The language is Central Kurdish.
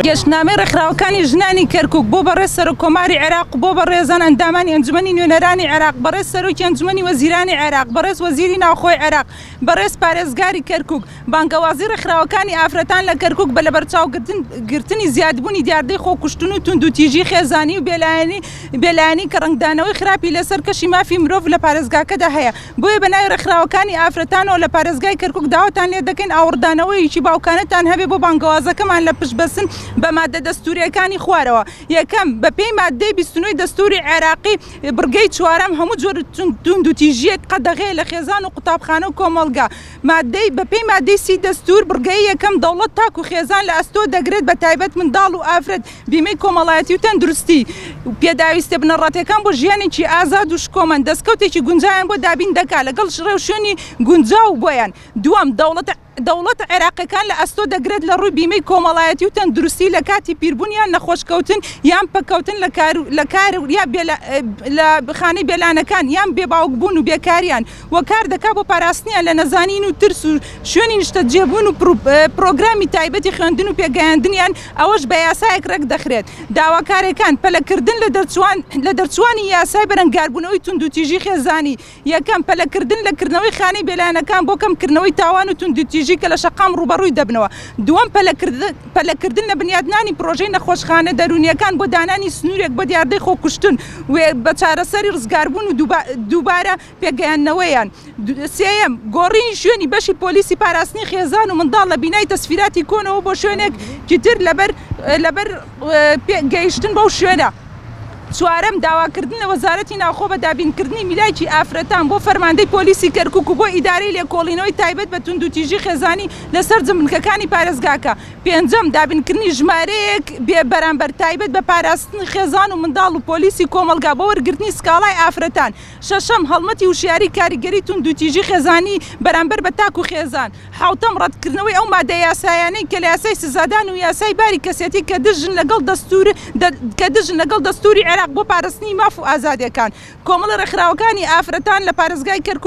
گەشتنامەی ڕێکخراوەکانی ژنانی کەرکوک بۆ بەڕێز سەرۆککۆماری عێراق و بۆ بەڕێزان ئەندامانی ئەنجومەنی نوێنەرانی عێراق، بەڕێز سەرۆکی ئەنجومەنی وەزیرانی عێراق، بەڕێز وەزیری ناوخۆی عێراق، بەڕێز پارێزگاری کەرکوک، بانگەوازی ڕێکخراوەکانی ئافرەتان لە کەرکوک بە لەبەرچاوگرتنی زیادبوونی دیاردەی خۆکوشتن و توندوتیژی خێزانی و بێلایەنی کە ڕەنگدانەوەی خراپی لە سەر کەشی مافی مرۆڤ لە پارێزگاکەدا هەیە بۆیە بە ناوی ڕێکخراوەکانی ئافرەتانەوە لە پارێزگای کەرکوک داواتان لێ دەکەین ئاوڕدانەوەیەکی باوکانەتان هەبێ بۆ بانگەوازەکەمان لە پشتبەستن بە ماددە دەستوورییەکانی خوارەوە یەکەم، بە پێی ماددەی بیست و نۆی دەستووری عێراقی بڕگەی چوارەم، هەموو جۆر توندوتیژییەک قەدەغەیە لە خێزان و قوتابخانە و کۆمەڵگە. ماددەی، بەپێی ماددەی سی دەستوور، بڕگەی یەکەم، دەوڵەت تاک و خێزان لە ئەستۆ دەگرێت، بە تایبەت منداڵ و ئافرەت، بیمەی کۆمەڵایەتی و تەندروستی، پێداویستیە بنەڕەتیەکان بۆ ژیانێکی ئازاد و شکۆمەند، دەستکەوتێکی گونجاویان بۆ دابین دەکات، لەگەڵ ڕێوشوێنی گونجاو بۆیان. دووەم، دەوڵەت. دەوڵەتە عێراقیەکان لە ئەستۆ دەگرێت لە ڕووی بیمەی کۆمەڵایەتی و تەندروستی لە کاتی پیربوون یان نەخۆش کەوتن یان پەککەوتن لە کار و لە کار و یا بێ لە خانەی بێلانەکان یان بێ باوک بوون و بێکاریان و کار دەکات بۆ پاراستنیان لە نەزانین و ترس و شوێنی نیشتەجێ بوون و پرۆگرامی تایبەتی خوێندن و پێگەیاندنیان ئەوەش بە یاسایەک ڕێک دەخرێت داواکارێکان پەلە کردن لە دەرچووان لە دەرچووانی یاسای بەرەنگاربوونەوەی توندوتیژی خێزانی یەکەم، پەلەکردن لە کردنەوەی خانەی بێلایەنەکان بۆ کەمکردنەوەی تاوان و توندوتیژی کە لە شەقام ڕووبەڕووی دەبنەوە. دووەم، پەلەکردن لە بنیاتنانی پڕۆژەی نەخۆشخانە دەروونییەکان بۆ دانانی سنوورێک بۆ دیاردەی خۆکوشتن و بە چارەسەری ڕزگاربوون و دووبارە پێکگەیاندنەوەیان. سێیەم، گۆڕینی شوێنی بەشی پۆلیسی پاراستنی خێزان و منداڵ لە بینای تەسفیراتی کۆنەوە بۆ شوێنێکی تر لەبەر پێ گەیشتن بەو شوێنە. چوارەم، داواکردن لە وەزارەتی ناوخۆ بە دابینکردنی میلاکی ئافرەتان بۆ فەرماندەی پۆلیسی کەرکوک و بۆ ئیدارەی لێکۆڵینەوەی تایبەت بە توندوتیژی خێزانی لە سەرجم بنکەکانی پارێزگاکە. پێنجەم، دابینکردنی ژمارەیەک بێ بەرامبەر تایبەت بە پاراستنی خێزان و منداڵ و پۆلیسی کۆمەڵگا بۆ وەرگرتنی سکاڵای ئافرەتان شەشەم، هەڵمەتی وشیاریی کاریگەری توندوتیژی خێزانی بەرامبەر بە تاک و خێزان. حەوتەم، ڕەتکردنەوەی ئەو مادە یاسایانەی کە لە یاسای سزادان و یاسای باری کەسێتی کە دژن لەگەڵ دەستوور کە دژن لەگەڵ دەستووری عێراق بۆ پاراستنی ماف و ئازادییەکان. کۆمەڵە ڕێکخراوەکانی ئافرەتان لە پارێزگای کەرکووک،